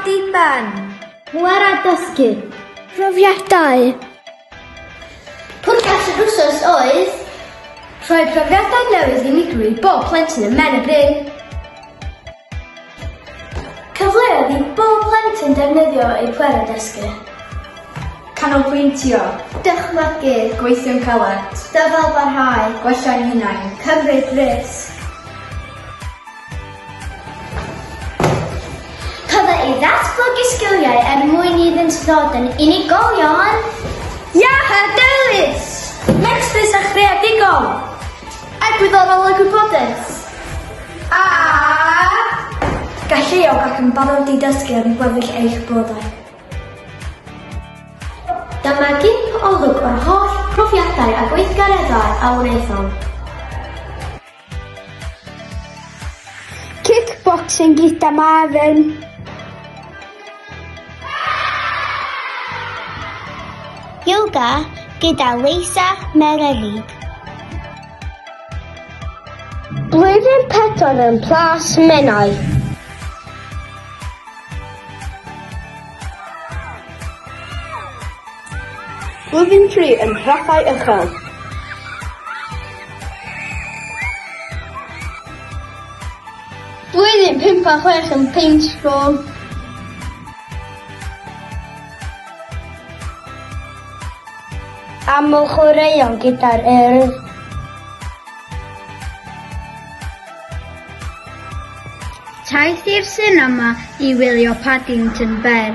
diben. Pŵer a dysgu. Profiadau. Pwrpas yr wsos oedd rhoi profiadau newydd unigryw i bob plentyn yn Men y Bryn. Cyfleoedd i bob plentyn defnyddio eu pwerau dysgu. Canolbwyntio. Dychmygu. Gweithio'n caled. Dyfalbarhau. Gwella ein hunain. Cymryd risg. Cyfle i ddatblygu sgiliau er mwyn iddynt ddod yn unigolion. Iach a dewis! Megsus a chreadigol! Egwyddorol a gwybodus. A galluog ac yn barod i dysgu am gweddill eich bywydau. Dyma gip olwg o'r holl profiadau a gweithgareddau a wnaethom. Kickboxing gyda Marvin. Yoga gyda Leisa Mererid. Blwyddyn pedwar yn Plas Menai. Blwyddyn tri yn nhrapau uchel. Blwyddyn pump a chwech yn Paintball. Aml chwaraeon gyda'r Urdd. Taith i'r sinema i wylio Paddington Bear.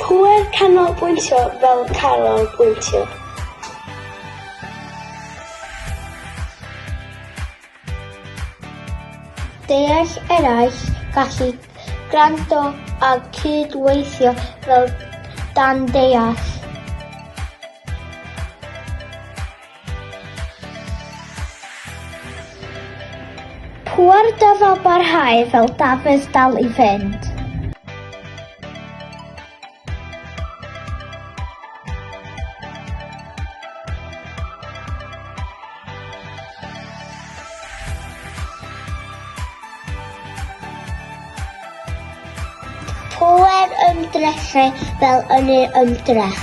Pŵer canolbwyntio fel canolbwyntio. Deall eraill, gallu gwrando a cydweithio fel dan deall. Pŵer da ddo barhau fel Dafydd dal i fynd. Pŵer ymdrechu fel yn ei ymdrech.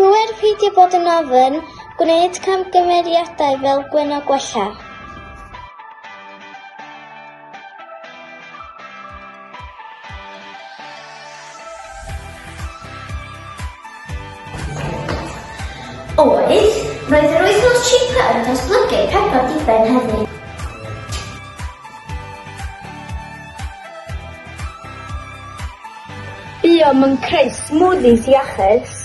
Rwy'n peidio bod yn ofn, gwneud camgymeriadau fel Gwenno Gwella. Oedd, roedd yr wythnos Chipa yn datblygu pedwar diben heddi. Buom yn creu smoothies iachus.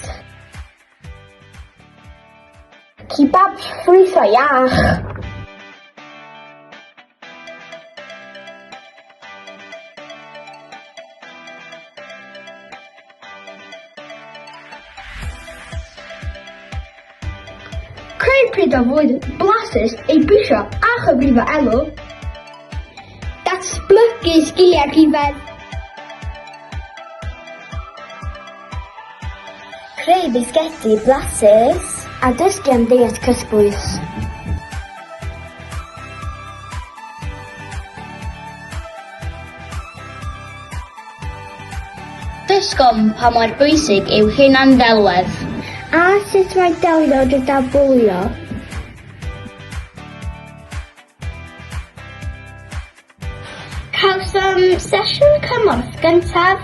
Kebabs ffrwytho iach. Creu pryd a fwyd blasus ei brisio a chyfrifo elw. Datblygu sgiliau rhyfedd. Creu bisgedi blasus a dysgu am deiet cytbwys. Dysgom pa mor bwysig yw hunan-ddelwedd. A sut mae delio gyda bwlio. Cawsom sesiwn cymorth gyntaf.